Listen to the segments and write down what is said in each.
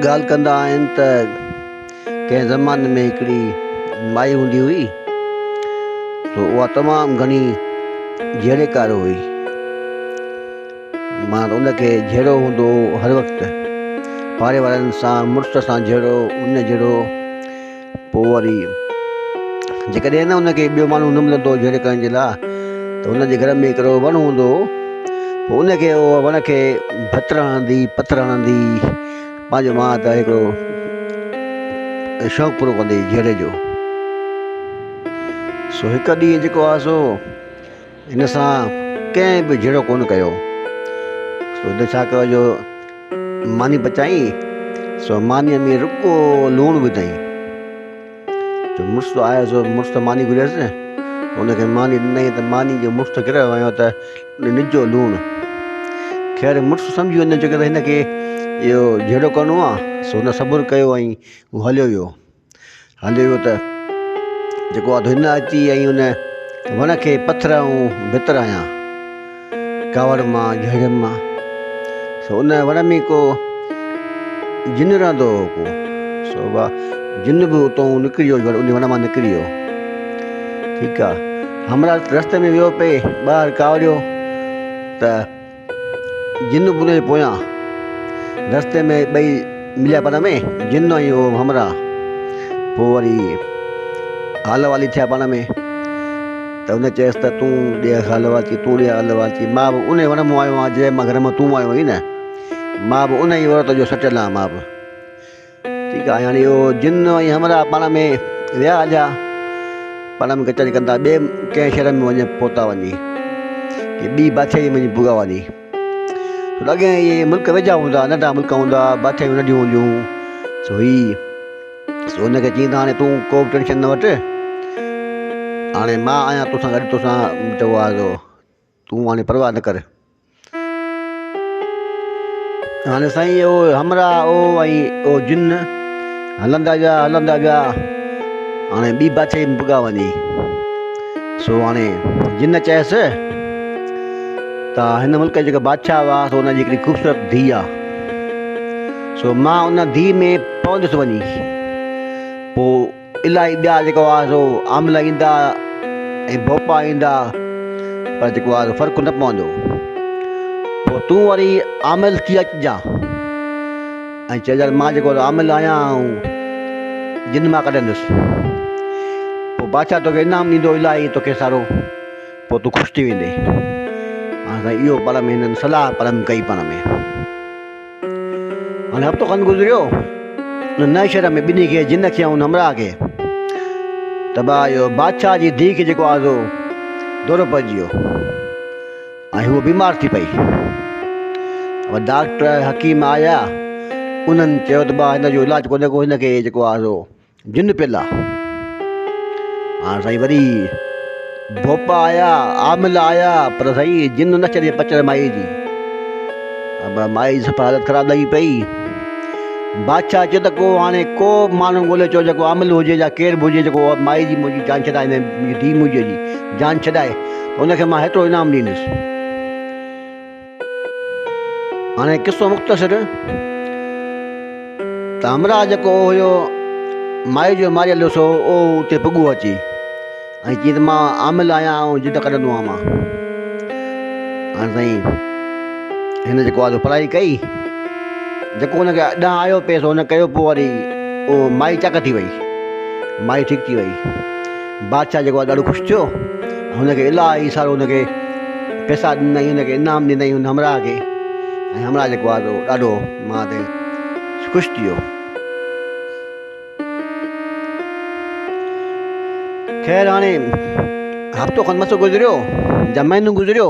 ڳالهه ڪندا آهن ته ڪنهن زماني ۾ هڪڙي مائي هوندي هئي سو اها تمام گهڻي جهيڙي ڪار هئي مان ان کي جهيڙو هوندو هر وقت پاڙي وارن سان مڙس سان جهيڙو ان جهيڙو پوء وري جيڪڏهن نه ان کي ٻيو ماڻهو نه ملندو جهيڙي ڪرڻ جي لاء ته ان جي گهر ۾ هڪڙو وڻ هوندو هو پوء ان کي اهو وڻ کي ڀت هڻندي پٿر هڻندي پنهنجو مان ته هڪڙو شوق پورو ڪندي جهيڙي جو سو هڪ ڏينهن جيڪو آهي سو هن سان ڪنهن به جهيڙو ڪونه ڪيو. سو هن ڇا ڪيو جو ماني پچائي سو مانيء ۾ رڳو لوڻ وڌائين. جو مڙس آيو سو مڙس ته ماني گهريس نه هن کي ماني ڏنائين ته ماني جو مڙس گهريو ويو ته نجو لوڻ. خير مڙس سمجهي ويو جو هن کي اهو جهيڙو ڪرڻو آهي سو هن صبر ڪيو ۽ هو هليو ويو. هليو ويو ته جيڪو آڌو هن اچي ۽ ان وڻ کي پٿر ۽ ڀت رايان ڪاوڙ مان جهڙيم مان سو ان وڻ ۾ ڪو جن رهندو هو ڪو سو اها جن به اتو نڪري ويو ان وڻ مان نڪري ويو ٺيڪ آ همرا رستي ۾ ويو پي ٻاهر ڪاوڙيو ته جن بنو جي پويان رستي ۾ ٻئي مليا پاڻ ۾ جن ۽ هو همراهه پوء وري حال والي ٿيا پاڻ ۾ ته ان چيس ته تون ڏي حال وال چي تون ڏي حال وال چي مان به ان وڻ مون آيو آهيان جنهن مان گهر مان تون آيو آهين مان به ان ئي عورت جو سٽيل آهيان مان به ٺيڪ آ يعني اهو جن ۽ همراهه پاڻ ۾ ويا هليا پنم ڪچهري ڪندا ٻي ڪنهن شهر ۾ وڃي پهتا وڃي ڪي ٻي بادشاهي ۾ وڃي پوڳا وڃي سو لڳي اهي ملڪ ويجها هوندا ننڍا ملڪ هوندا بادشاهيون ننڍيون هونديون سو هي سو هن کي چيائين ته هاڻي تون کو بि ٽينشن نه وٺ هاڻي مان آهيان تون سان گڏ تو سان چئبو آهي سو تون هاڻي پرواهه نه ڪر. هاڻي سائين او همراهه او ۽ او جن هلندا ويا هلندا ويا هاڻي ٻي بادشاهي ۾ پڳا وڃي سو هاڻي جن چيس ته هن ملڪ جيڪا بادشاهه هئا سو ان جي هڪڙي خوبصورت ڌيء آ سو مان ان ڌيء ۾ پوندس وڃي پوء الاهي ٻيا جيڪو آهي سو آمله ايندا ۽ ڀوپا ايندا پر جيڪو آهي سو فرق نه پوندو پوء تون وري آمل ٿي اچجان ۽ چئجان مان جيڪو آمل آهيان آئون جن مان ڪڍندس پوء بادشاهه توکي انعام ڏيندو الاهي توکي سارو پوء تون خوش ٿي ويندين هاڻ سائين اهو پرم هنن صلاح پرم ڪئي پاڻ ۾ هاڻي هفتو کن گذريو، ان نئين شهر ۾ ٻنهي کي، جن کي ۽ ان همراهه کي، طبع اهو بادشاهه جي ڌيء کي جيڪو آزو دورو پئجي ويو ۽ هوء بيمار ٿي پئي. اهو ڊاڪٽر، حڪيم آيا، انهن چيو ته ڀاء هن جو علاج ڪونهي ڪو، هن کي جيڪو آزو. جن پيلا هاڻ سائين وري ڀوپا آيا عامل آيا پر سائين جن نه چري پچر مائي جي اب مائي سفا حالت خراب لڳي پئي بادشاهه چيو ته کو هاڻي ڪو ماڻهو ڳولي چو جيڪو عامل هجي يا ڪير به هجي جيڪو مائي جي منهنجي جان ڇڏائي منهنجي ڌيء منهنجي جي جان ڇڏائي انکي مان هيترو انعام ڏيندس هاڻي قصو مختصر ته همراهه جيڪو هيو مائي جو ماريل سو او اتي پڳو اچي ۽ چي ته مان عامل آهيان ۽ جد ڪڍندو آهيان مان هاڻي سائين هن جيڪو آهي پرائي ڪئي جيڪو هنکي ڏانهن آيو پيس هن ڪيو پوء وري او مائي چڪ ٿي وئي مائي ٺيڪ ٿي وئي بادشاهه جيڪو آهي ڏاڍو خوش ٿيو ۽ هن کي الاهي سارو هن کي پيسا ڏنائين هن کي انعام ڏنائين هن همراهه کي ۽ همراهه جيڪو آهي سو ڏاڍو ماء تي خوش ٿي ويو خير هاڻي هفتو کن مس گذريو يا مهينو گذريو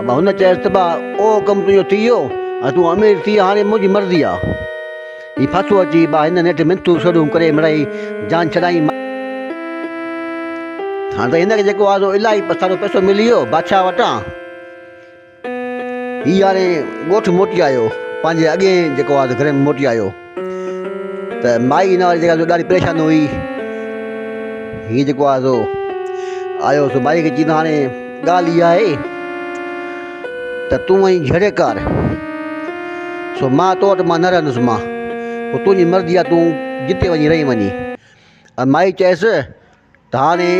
ابا هن چيس ته ابا اهو ڪم تنهنجو ٿي ويو ۽ تون امير ٿي هاڻي منهنجي مرضي آ. هي ڦاسو اچي ابا هن نيٺ منٿون سڙهون ڪري مڙئي جان ڇڏائين. هاڻي ته هن کي جيڪو آ سو الاهي سارو پئسو ملي ويو بادشاهه وٽان. هي هاڻي ڳوٺ موٽي آيو پنهنجي اڳئين جيڪو آ سو گهر ۾ موٽي آيو. ته مائي هن واري جيڪا ڏاڍي پريشان هئي هي جيڪو آهي سو آيو سو مائي کي چيندو هاڻي ڳالهه اها آهي ته تون ائين جهڙي ڪار سو مان تو وٽ مان نه رهندس مان تنهنجي مرضي آهي تون جتي وڃي رهي وڃي مائي چيس ڌاڙي،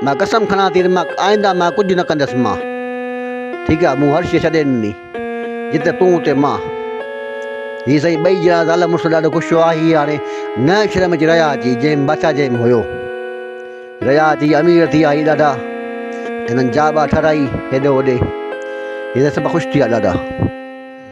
مان قسم کڻان ٿي ته مان آئنده مان ڪجهه نه ڪندس مان ٺيڪ آ مون هر شي ڇڏي ڏني جتي تون اتي مان هي سائين ٻئي جهڙا زال مڙس ڏاڍو خوش هئا هي هاڻي نئين شهر ۾ رهيا اچي جنهن بادشاهه جنهن ۾ هيو رهيا اچي امير ٿي آئي ڏاڍا هنن جا ٻا ٺهرائي هيڏو هوڏي هي سڀ خوش ٿي ويا ڏاڍا